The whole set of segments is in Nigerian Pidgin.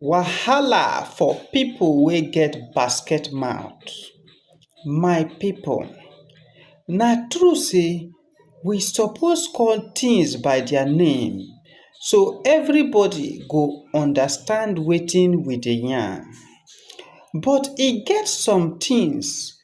Wahala for people wey get basket mouth. My people na true sey we suppose call things by their name so everybody go understand wetin we dey yarn but e get some things.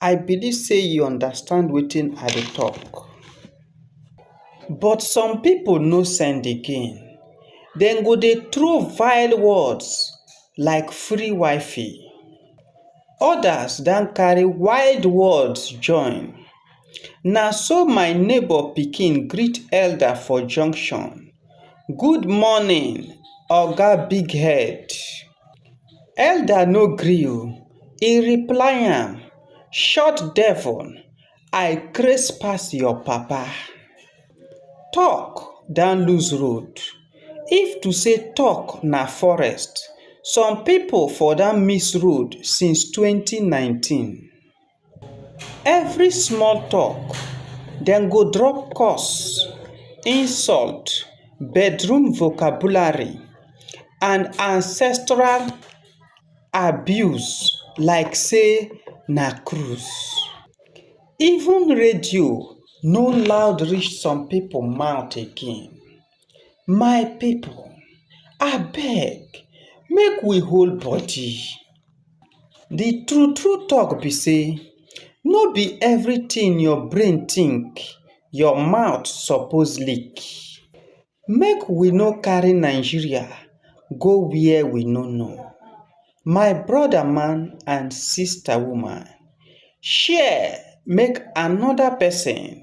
I believe sey you understand wetin I dey talk. But some pipu no send again, dem go dey throw vile words like free wifi, others don carry wild words join. Na so my neighbour pikin greet elder for junction, good morning oga big head. elder no gree o e reply am short devil i craze pass your papa talk don lose road if to say talk na forest some people for don miss road since twenty nineteen. Every small talk dem go drop curse, insult, bedroom vocabulary and ancestral abuse like say na cruise. Even radio no loud reach some pipu mouth again. My people abeg make we hold body, de true true talk be sey no be everything your brain think your mouth suppose lick. Make we no carry Nigeria go where we no know. My brother man and sister woman share make another person.